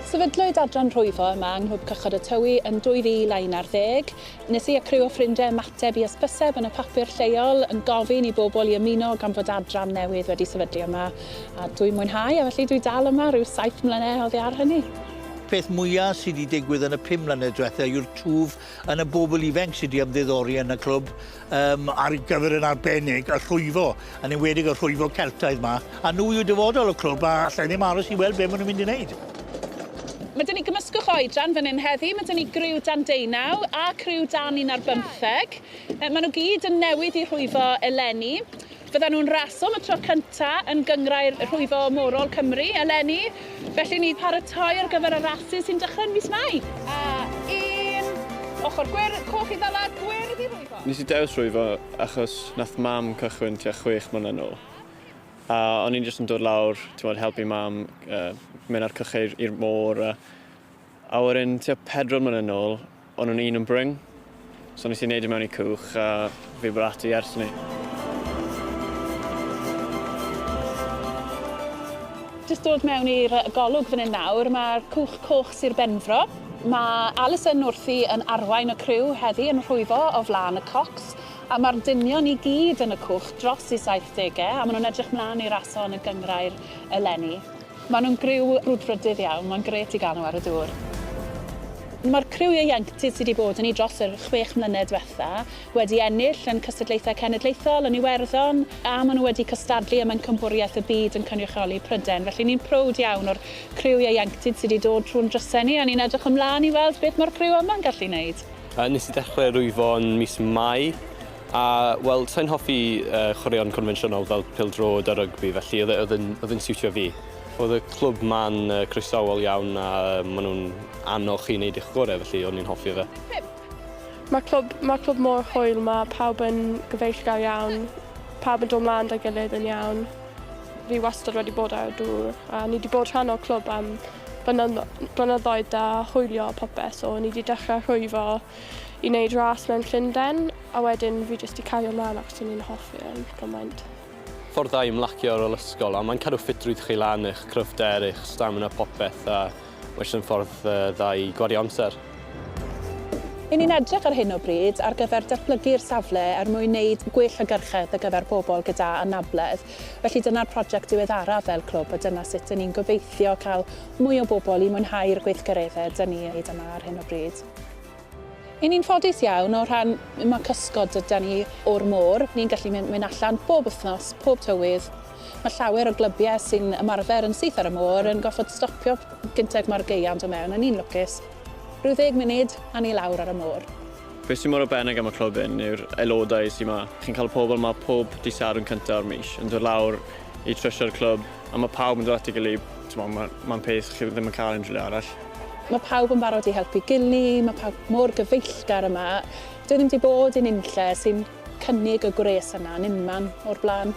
Sefydlwyd adran rhwyfo yma yng Nghlwb Cychod y Tywi yn 2011. Nes i a criw o ffrindiau ymateb i ysbyseb yn y papur lleol yn gofyn i bobl i ymuno gan fod adran newydd wedi sefydlu yma. A dwi'n mwynhau a felly dwi dal yma rhyw saith mlynedd oddi ar hynny. Peth mwya sy 'di digwydd yn y pum mlynedd dwetha yw'r twf yn y bobl ifanc sydd wedi ymddiddori yn y clwb um, ar gyfer yn arbennig y rhwyfo, yn enwedig y rhwyfo Celtaidd yma. A nhw yw dyfodol y clwb a allai ddim aros i weld beth maen nhw'n mynd i wneud. Mae dyn ni gymysgwch oedran fan hyn heddi, mae dyn ni griw dan deunaw a criw dan un ar bymtheg. Maen nhw gyd yn newydd i rhwyfo eleni. Byddan nhw'n raso am y tro cyntaf yn Gynghrair Rhwyfo Morol Cymru eleni, felly ni'n paratoi ar gyfer y rasys sy'n dechrau yn mis Mai. A un ochr gwyrdd, coch i ddala, gwyrdd i rhwyfo. Nes i dewis rhwyfo achos nath mam cychwyn tua chwech mlynedd nôl a o'n i'n jyst yn dod lawr t'mod helpu mam yy mynd â'r cycheir i'r môr a a wedyn tua pedwar mlynedd nôl O'n nhw'n un yn brin, so nes i wneud e mewn i cwch a fi bod ati ers hynny. Jyst dod mewn i'r golwg fan hyn nawr, mae'r Cwch Coch Sir Benfro. Mae Alison wrthi yn arwain y criw heddi yn rhwyfo o flaen y cocs, a mae'r dynion i gyd yn y cwch dros i 70au, a maen nhw'n edrych mlaen i raso yn y gynghrair eleni. Maen nhw'n griw brwdfrydydd iawn, mae'n grêt i gael nhw ar y dŵr. Mae'r criw ieuenctid sydd wedi bod yn ni dros yr chwech mlynedd diwetha' wedi ennill yn cystadlaethau cenedlaethol, yn Iwerddon, a maen nhw wedi cystadlu ym Mhencampwriaeth y Byd yn cynrychioli Prydain. Felly ni'n prowd iawn o'r criw ieuenctid sydd wedi dod trwy'n drysau ni a ni'n edrych ymlaen i weld beth mae'r criw yma'n gallu wneud. Nes i ddechrau rwyfo yn mis Mai A, wel, sa i'n hoffi yy chwaraeon confensiynol fel pêl-droed a rygbi felly oedd e oedd e'n oedd e'n siwtio fi. Oedd y clwb 'ma'n yy croesawol iawn a yy ma' nhw'n annog chi i wneud eich gore' felly o'n i'n hoffi fe. Pump. Mae'r clwb mae'r clwb mor hwyl, mae pawb yn gyfeillgar iawn, pawb yn dod 'mlaen 'da'i gilydd yn iawn. Fi wastad wedi bod ar y dŵr a ni 'di bod rhan o'r clwb am blynyddno- blynyddoedd da, hwylio a popeth so ni 'di dechre rhwyfo i wneud ras mewn Llundain, a wedyn fi jyst i cario mlaen achos o'n i'n hoffi e'n gymaint. Ffordd dda i ymlacio ar ôl ysgol, a mae'n cadw ffitrwydd chi lan, eich cryfder, eich stamina popeth, a mae jyst yn ffordd dda i gwario amser. Yn ni'n edrych ar hyn o bryd ar gyfer datblygu'r safle er mwyn wneud gwell hygyrchedd ar gyfer pobl gyda anabledd, felly dyna'r project diweddaraf fel clwb a dyna sut 'y ni'n gobeithio cael mwy o bobl i mwynhau'r gweithgareddau 'da ni wneud yma ar hyn o bryd. Y ni'n ffodus iawn o rhan ma' cysgod dyda ni o'r môr, ni'n gallu mynd mynd allan bob wythnos, pob tywydd. Ma' llawer o glybiau sy'n ymarfer yn syth ar y môr yn gorfod stopio gynted ma'r gaeau'n do mewn, a ni'n lwcus. Rhyw ddeg munud a ni lawr ar y môr. Be sy mor arbennig am y clwb hyn yw'r aelodau sy ma. Chi'n cael y pobl ma pob dydd Sadwrn cynta o'r mis yn dod lawr i trysio'r clwb. A mae pawb yn dod at ei gilydd, timod, mae'n ma peth chi ddim yn cael unrhyw le arall. Mae pawb yn barod i helpu gili, mae pawb mor gyfeillgar yma. Dwi ddim wedi bod i nunlle sy'n cynnig y gwres yna yn unman o'r blaen.